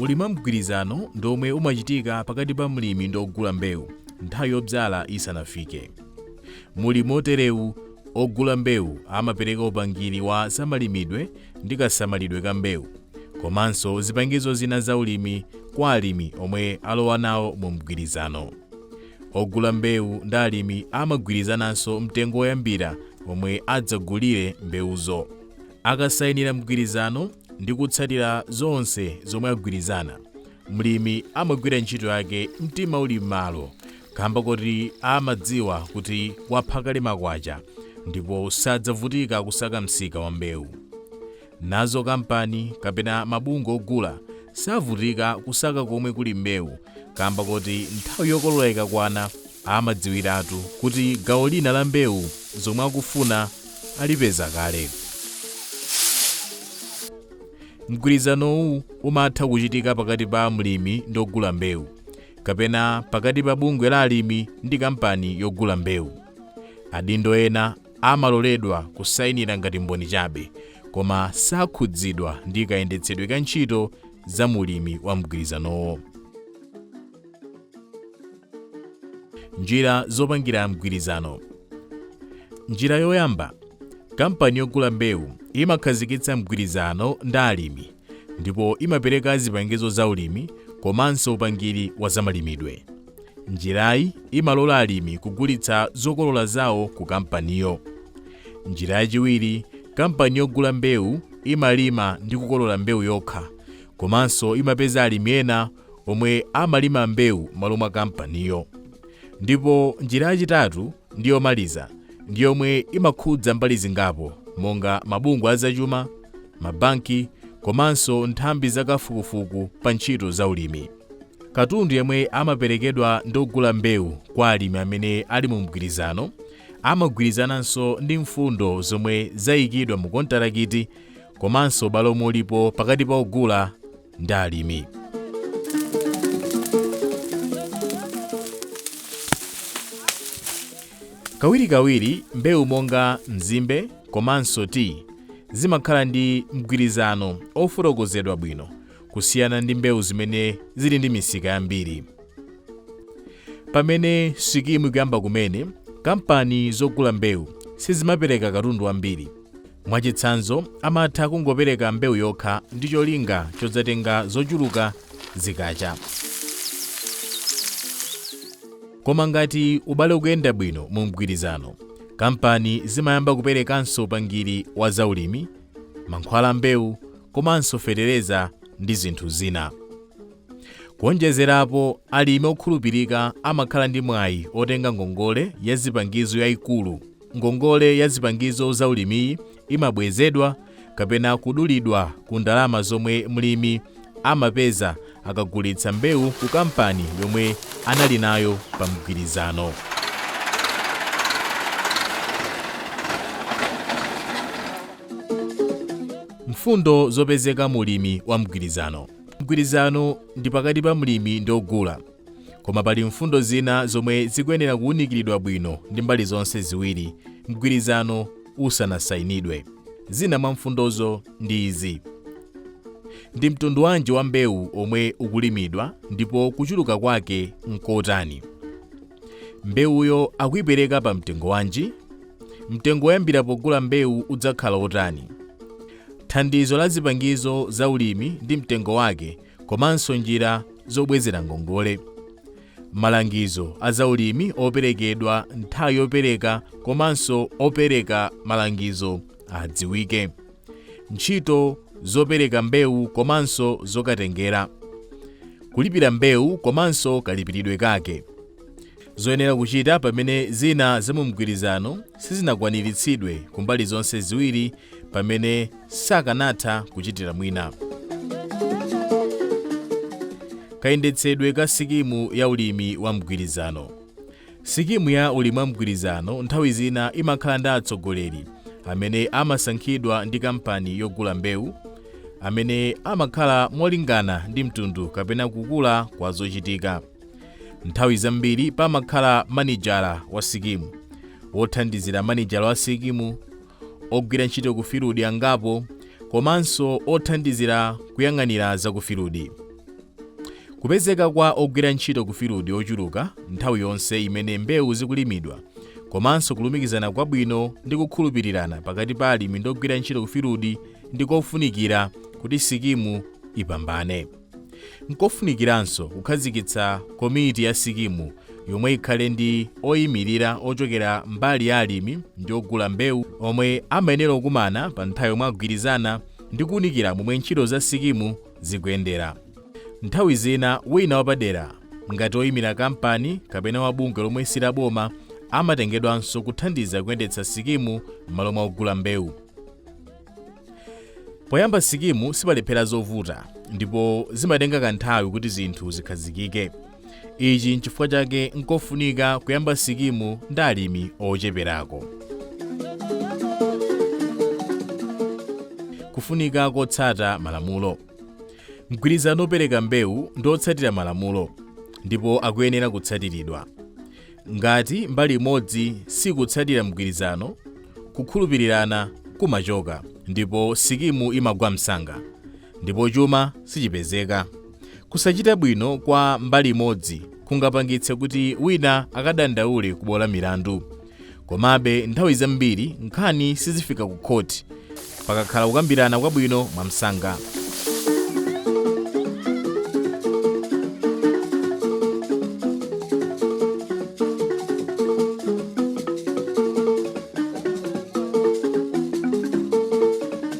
ulimi wamgwirizano ndi omwe umachitika pakati pa mlimi ndi ogula mbewu nthawi yobzala isanafike mu ulimi oterewu Ogula mbewu amapereka upangiri wa zamalimidwe ndi kasamalidwe ka mbewu komanso zipangizo zina za ulimi kwa alimi omwe alowa nawo mu mgwirizano. Ogula mbewu ndi alimi amagwirizananso mtengo woyambira womwe adzagulire mbewuzo. Akasainira mgwirizano ndi kutsatira zonse zomwe agwirizana, mlimi amagwira ntchito yake mtima uli m'malo kamba koti amadziwa kuti wapha kale makwacha ndipo sadzavutika kusaka msika wa mbewu. Nazo kampani kapena mabungwe ogula savutika kusaka komwe kuli mbewu kamba koti nthawi yokolola ikakwana amadziwiratu kuti gawo lina la mbewu zomwe akufuna alipeza kale. Mgwirizanowu umatha kuchitika pakati pa mlimi ndi ogula mbewu. kapena pakati pa bungwe la alimi ndi kampani yogula mbewu adindo ena amaloledwa kusayinira ngati mboni chabe koma sakhudzidwa ndi kayendetsedwe ka ntchito za mu ulimi wa mgwirizanowo njira zopangira mgwirizano njira yoyamba kampani yogula mbewu imakhazikitsa mgwirizano ndi alimi ndipo imapereka zipangizo zaulimi komanso upangiri wa zamalimidwe. Njirayi imalola alimi kugulitsa zokolola zawo ku kampaniyo. Njira yachiwiri, kampani yogula mbewu imalima ndi kukolola mbewu yokha komanso imapeza alimi ena omwe amalima mbewu m'malo mwa kampaniyo. Ndipo njira yachitatu ndi yomaliza ndi yomwe imakhudza mbali zingapo monga mabungwe azachuma, mabanki komanso nthambi zakafukufuku pa ntchito za ulimi. Katundu yemwe amaperekedwa ndi ogula mbewu kwa alimi amene ali mu mgwirizano amagwirizananso ndi mfundo zomwe zayikidwa mu kontarakiti komanso ubale omwe ulipo pakati pa ogula ndi alimi. Kawirikawiri mbewu monga mzimbe komanso tiyi zimakhala ndi mgwirizano ofotokozedwa bwino kusiyana ndi mbewu zimene zili ndi misika yambiri. Pamene sikimu ikuyamba kumene, kampani zogula mbewu sizimapereka katundu wambiri Mwachitsanzo, amatha kungopereka mbewu yokha ndi cholinga chodzatenga zochuluka zikacha. Koma ngati ubale ukuyenda bwino mu mgwirizano, kampani zimayamba kuperekanso upangiri wa zaulimi, mankhwala a mbewu komanso fetereza ndi zinthu zina. Kuwonjezerapo, alimi okhulupirika amakhala ndi mwayi wotenga ngongole ya zipangizo yaikulu Ngongole ya zipangizo za ulimiyi imabwezedwa kapena kudulidwa ku ndalama zomwe mlimi amapeza akagulitsa mbewu ku kampani yomwe anali nayo pa mgwirizano. Mfundo zopezeka mu ulimi wa mgwirizano. Mgwirizano ndi pakati pa mlimi ndi ogula. Koma pali mfundo zina zomwe zikuyenera kuwunikiridwa bwino ndi mbali zonse ziwiri mgwirizano usanasayinidwe. Zina mwa mfundozo ndi izi: Ndi mtundu wanji wa mbewu omwe ukulimidwa ndipo kuchuluka kwake n'kotani? Mbewuyo akuipereka pa mtengo wanji? Mtengo woyambira pogula mbewu udzakhala wotani? Thandizo la zipangizo za ulimi ndi mtengo wake komanso njira zobwezera ngongole malangizo a zaulimi operekedwa nthawi yopereka komanso opereka malangizo adziwike ntchito zopereka mbewu komanso zokatengera kulipira mbewu komanso kalipiridwe kake Zoyenera kuchita pamene zina za mu mgwirizano sizinakwaniritsidwe ku mbali zonse ziwiri pamene sakanatha kuchitira mwina. Kayendetsedwe ka sikimu ya ulimi wa mgwirizano. Sikimu ya ulimi wa mgwirizano nthawi zina imakhala ndi atsogoleri amene amasankhidwa ndi kampani yogula mbewu amene amakhala molingana ndi mtundu kapena kukula kwa zochitika. nthawi zambiri pamakhala manijala wa sikimu wothandizira manijala wa sikimu ogwira ntchito ku filudi angapo komanso othandizira kuyang'anira za ku filudi kupezeka kwa ogwira ntchito ku filudi ochuluka nthawi yonse imene mbewu zikulimidwa komanso kulumikizana kwabwino ndi kukhulupirirana pakati pa alimi ndi ogwira ntchito ku filudi ndi kofunikira kuti sikimu ipambane Nkofunikiranso kukhazikitsa komiti ya sikimu yomwe ikhale ndi oyimirira ochokera mbali ya alimi ndi ogula mbewu omwe amayenera kukumana pa nthawi yomwe agwirizana ndi kuunikira momwe ntchito za sikimu zikuyendera. Nthawi zina wina wapadera, ngati oyimira kampani kapena wa bungwe lomwe si laboma, amatengedwanso kuthandiza kuyendetsa sikimu m'malo mwa ogula mbewu. Poyamba sikimu sipalephera zovuta ndipo zimatenga kanthawi kuti zinthu zikhazikike. Ichi nchifukwa chake nkofunika kuyamba sikimu ndi alimi ocheperako. Kufunika kotsata malamulo. Mgwirizano wopereka mbewu ndi otsatira malamulo ndipo akuyenera kutsatiridwa. Ngati mbali imodzi sikutsatira mgwirizano, kukhulupirirana kumachoka ndipo sikimu imagwa msanga, ndipo chuma sichipezeka. Kusachita bwino kwa mbali imodzi kungapangitse kuti wina akadandaule ku bwalo la milandu. Komabe, nthawi zambiri nkhani sizifika ku khoti pakakhala kukambirana kwabwino mwamsanga.